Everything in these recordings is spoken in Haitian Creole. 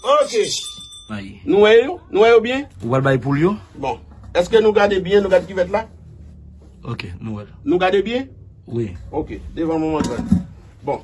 Ok. Ayi. Nou wè yo? Nou wè yo byen? Ou pral bay poul yo? Bon. Eske nou gade byen? Nou gade kivèt la? Ok. Nou wè l. Nou gade byen? Wi. Ok. Devan mwen montre l. Bon.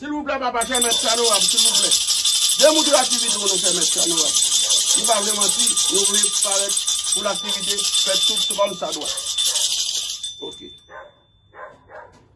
Silvouplè papa fè mèt sa nou wap silvouplè de moutre aktivite w nou fè mèt sa nou wap nou pa vle manti nou vle parèt pou laktivite fèt tout kòm sa dwa ok.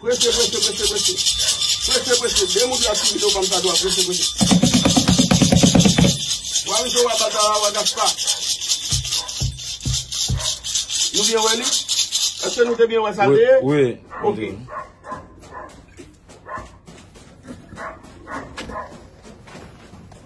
Prese prese prese prese. Prese prese. De moun ap fini do banm sa dwa prese prese. Wa rive wa batara wa gaspa. Nou byen wè li? Eske nou te byen wè sa l deye? Wi. Ok.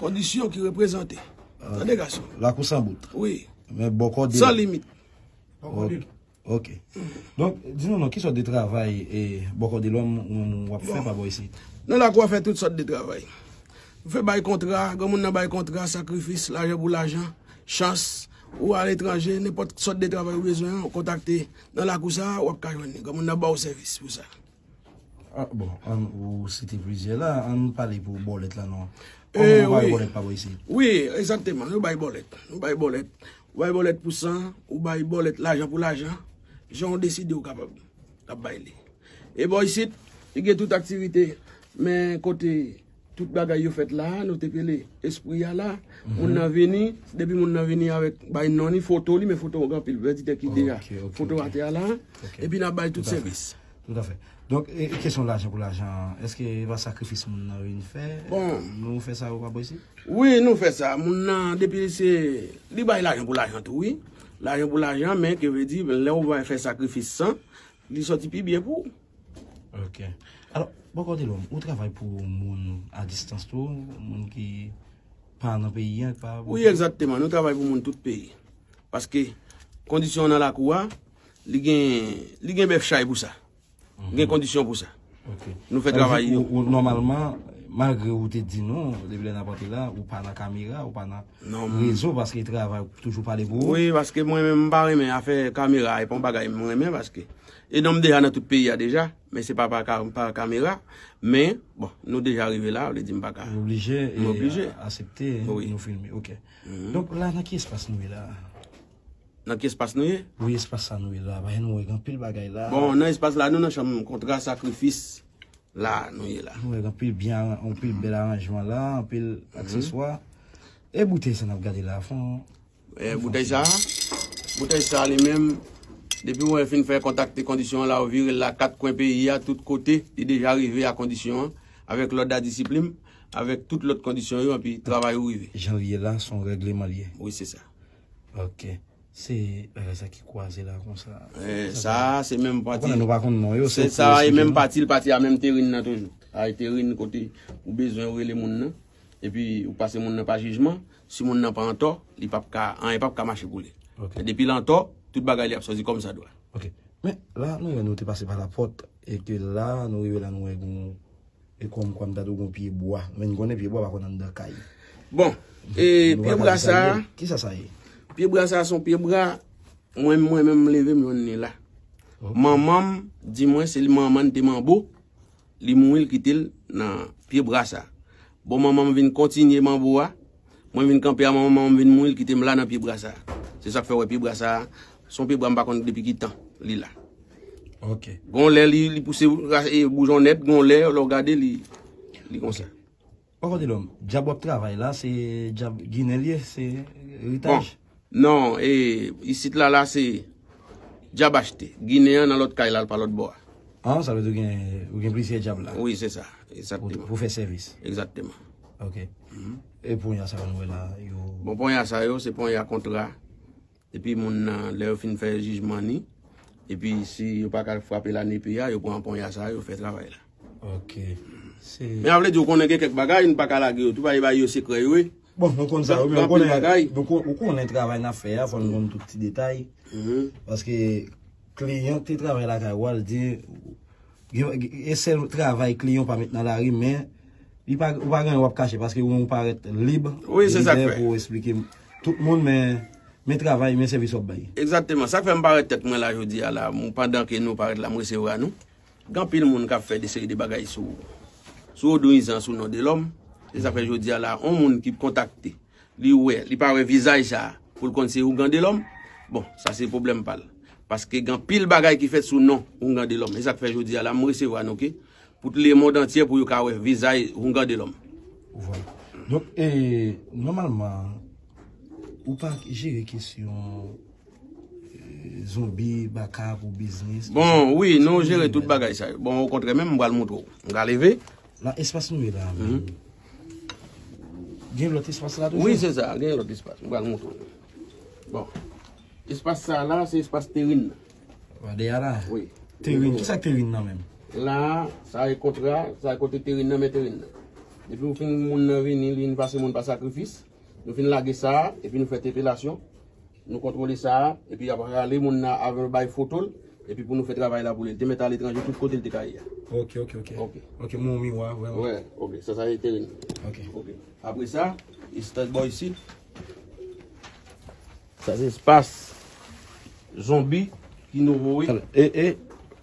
Kondisyon ki reprezante. Tande gason. Lakou san bout. Wi. Men bòkò de. San limit. Bòkò de. Ok. Donk, di nou nou, ki sòt de travay e bòkò de lòm ou wap fè pa bò isi? Nan lakou a fè tout sòt de travay. Ou fè bay kontra, gò moun nan bay kontra, sakrifis, lajan pou lajan, chans, ou al etranje, nenpòt sòt de travay ou bezwen an, ou kontakte nan lakou sa a, wap ka jwenn li. Gò moun nan ba ou sèvis pou sa. Bon, an ou site plizyè la, an nou pale pou bòlèt la non. Kòman yo bay bòlèt pa bò isi? Wi, egzakteman, yo bay bòlèt. Yo bay bòlèt. Yo bay bòlèt pou san, yo bay bòlèt lajan pou lajan. Jan ou deside ou kapab bay li. E bò isit, li gen tout aktivite men kote. Tout bagay yo fèt la, nou te pele espri a la, moun nan vini, depi moun nan vini avèk bay non li, foto li, men foto gen anpil vè di tè ki deja, foto atè a la, epi nan bay tout sèvis. Tout afè. Donk, e kesyon lajan pou lajan an, eske e pa sakrifis moun nan vin fè? Bon. Nou fè sa ou pa posib? Wi, nou fè sa. Moun nan, depi se, li bay lajan pou lajan tou wi. Lajan pou lajan, men ke vle di, lè ou va fè sakrifis san, li sòti pi byen pou ou. Ok. Alò, bòkò Delò, ou travay pou moun a distans tou, moun ki pa nan peyi an? Wi, egzatteman. Nou travay pou moun tout peyi. Paske, kondisyon an nan lakou a, li gen bèf chay pou sa. Li gen kondisyon pou sa. Ok. Nou fè travay yo. Ou nòmalman, malgre ou te di nou, depi lè nan pati la, ou pa nan kamera, ou pa nan rezo, paske travay toujou pale pou ou. Wi, paske mwen menm m pa renmen afè kamera, e pa yon bagay m renmen paske. E nonm deja nan tout peyi a deja, men se pa pa kamera, men bon nou deja rive la, vle di m pa ka. M oblije e asepte nou filme, ok. Donk la nan ki espas nou ye la? Nan ki espas nou ye? Wi espas sa nou ye la, paske nou wè gen anpil bagay la. Bon nan espas la nou nan chanm kontra sakrifis la nou ye la. Nou wè gen anpil byen, anpil bèl aranjman la, anpil akseswa. E boutèy sa n ap gade la fon? Boutèy sa a, boutèy sa a li menm, depi wè fin fè kontakte kondisyon an la ou vire l la kat kwen peyi a, tout kote, li deja rive a kondisyon an, avèk lòd a disiplim, avèk tout lòt kondisyon yo enpi travay ou rive. Janvye la son règleman li ye? Wi se sa. Ok. Se bagay sa ki kwaze la konsa. Sa a se menm pati. Ou konnen nou pa konn non yo. Se sa a e menm pati l, pati a menm terin nan toujou. Ay terin kote ou bezwen ou rele moun nan. Epi ou pase moun nan pa jijman, si moun nan pa antò, li pap ka, anyen pap ka mache pou li. Men depi l antò, tout bagay li ap soti kòm sa dwa. Ok. Men, la nou wè nou te pase pa la pòt, e ke la nou rive la nou wè gen yon, e kòm kwa m ta di w gen yon pye bwa. Men n konnen pye bwa pa konn anndan kay. Bon, e pye bwa sa a. Ki sa sa ye? Pye bwa sa a son pye bwa, mwen mwen menm m leve m jwenn li la. Manman m di mwen se li manman n te manbo. Li mouri l kite l nan pye bra sa. Bon manman m vin kontinye manbo a. Mwen vin kanpe a manman manman m vin mouri l kite m la nan pye bra sa. Se sa k fè w wè pye bra sa a. S on pye bra m pa konn depi ki tan li la. Ok. Gon lè li pouse boujon nèt, gon lè lè w gade li konsa. Poko delom. Djab wap travay la se djab ginen li ye se ritaj. Non e isit la la se djab achte. Ginen an nan lot kay la l pa lot bo a. Ah sa vle di ou gen plizyè djab la. Wi se sa exactement. Pou fè sèvis. Exactement. Ok. E ponya sa yo nou wè la yo. Bon ponya sa yo se ponya kontra. Epi moun nan lè yo fin fè jijman ni epi si yo pa ka frape la nepe a yo pran ponya sa yo fè travay la. Ok. Se. Men a vle di ou konnen gen kèk bagay nou pa ka lage yo tou paske bay yo sekrè yo wi. Bon nou konn sa wi men ou konnen bagay. Ou konnen travay nap fè a fò nou konn tout ti detay paske kliyan ki te travay lakay ou a li di E sèl travay kliyon pa met nan lari men li pa ou pa gen wap kache paske ou menm ou parèt lib wi se sak fè pou esplike tout moun men men travay men sèvis wap bay. Egzakteman sak fè m parèt tèt mwen la jodi a la pandan ke nou parèt la m resevra nou gen anpil moun kap fè de seri de bagay sou sou odon izan sou non Delòm se sak fè jodi a la on moun ki kontakte Li wè, li pa wè vizaj sa a pou l konn se Ougan Delòm. Bon, sa se pwoblèm pa l. Paske gen anpil bagay ki fèt sou non Ougan Delòm. E sa k fè jodi a la m resevwa nou ke pou t lemond antyè pou yo ka wè vizaj Ougan Delòm. Ou vwa. Donk, e, nòmalman, ou pa jere kesyon zonbi, baka pou biznis. Bon, wi, nou jere tout bagay sa yo. Bon, okontrè menm, m pral montre w. M ka leve. Nan espas nou ye la a menm. Gen lòt espas la toujou? Wi, se sa, gen lòt espas. Mwen pral montre ou. Bon. Espas sa la, se espas terin nan. Bon, deyè la? Wi. Terin, ki sa ki terin nan menm? La, sa e kontra, sa e kote terin nan men terin nan. Depi ou fin moun nan vini, li vin pase moun pa sakrifis. Nou fin lage sa a epi nou fè tepelasyon, nou kontwole sa a epi y ap rale moun nan avan yo bay foto l epi pou nou fè travay la pou li. L te mèt aletranje tout kote l te ka ye a. Ok ok ok ok ok mwen wè yon miwa a vre wi. Ok sa sa ye teren nan. Ok ok apre sa estèk bò isit. Sa se espas zonbi ki nouvo wi. E e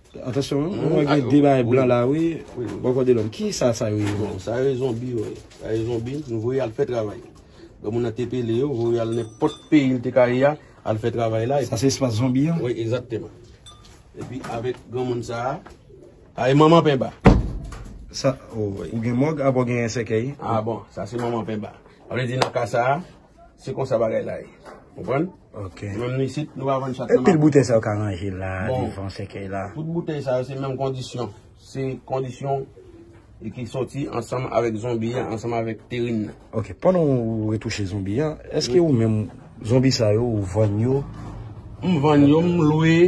Atansyon wi mwen wè gen 2 bagay blan la wi bò kote lòm. Kisa sa yo ye menm? Sa yo e zonbi yo ye. Sa yo e zonbi nou voye al fè travay. Lò moun nan te pele yo voye al nenpòt peyi l te ka ye a al fè travay la. Sa se espas zonbi an? Wi egzakteman. Epi avèk granmoun sa a. Sa e manman penba. Sa ou gen mòg apa w gen sèkèy? A bon sa se manman penba. Sa vle di nan ka sa a. Se konsa bagay la ye. Konprann? Ok. Menm nou isit, nou pa vann chat nan makout. E pil boutèy sa yo ka ranje la, devan sèkèy la? Tout boutèy sa yo se menm kondisyon. Se kondisyon e ki soti ansanm avèk zonbi an, ansanm avèk terin nan. Ok. Pandan ou retouche zonbi an, eske ou menm zonbi sa yo ou vann yo? M vann yo, m lwe.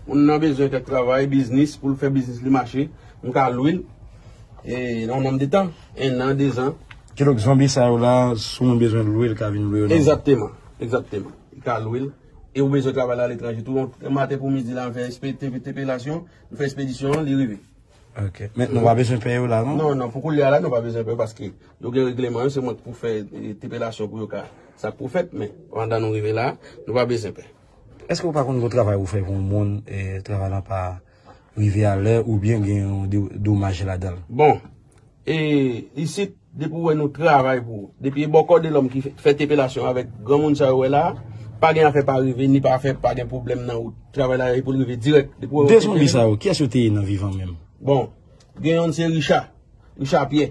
Moun nan bezwen kèk travay, biznis, pou l fè biznis li mache. M ka lwe l nan yon nanm de tan. 1 an 2 zan. Kidonk zonbi sa yo la si moun bezwen lwe li ka vin lwe yo nan. Egzakteman, egzakteman. Li ka lwe l. E ou bezwen travay la aletranje tou. Yon maten pou midi la m fè entepelasyon, m fè espedisyon an, li rive. Ok. Men nou pa bezwen peye yo la non? Non, non. Pou koulye a la nou pa bezwen peye paske yo gen regleman yo se mwen ki pou fè entepelasyon pou yo ka sa k pou fèt men pandan nou rive la nou pa bezwen peye. Eske ou pa konn gwo travay ou fè pou yon moun travay lan pa. rive a lè ou byen gen yon domaj ladanl. Bon E isit depi ou wè nou travay pou ou depi e bòkò Delòm ki fè tepelasyon avèk granmoun sa ou wè la a pa gen afè pa rive ni pa afè pa gen pwoblèm nan wout travay la e pou l rive dirèk depi ou wè yo tepe. 2 zonbi sa yo kiyès yo te ye nan vivan menm? Bon Gen yonn se Richa Richa Pyè.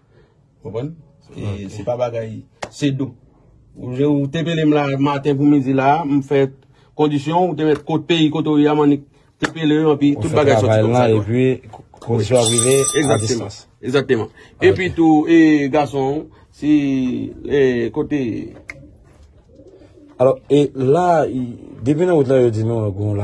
Konprann? Se pa bagay, se do. Ou te pele m la maten pou midi la, m fè kondisyon, ou te met kot peyi kote ou ye a, m annik te pele yo, anpi tout bagay soti konprann. Ou fè travay lan, epi kondisyon ap rive, a distans. Ekzakteman. Epi tou, e gason, si, e kote. Alò, e la, depi nan wout la yo di nou, goun la.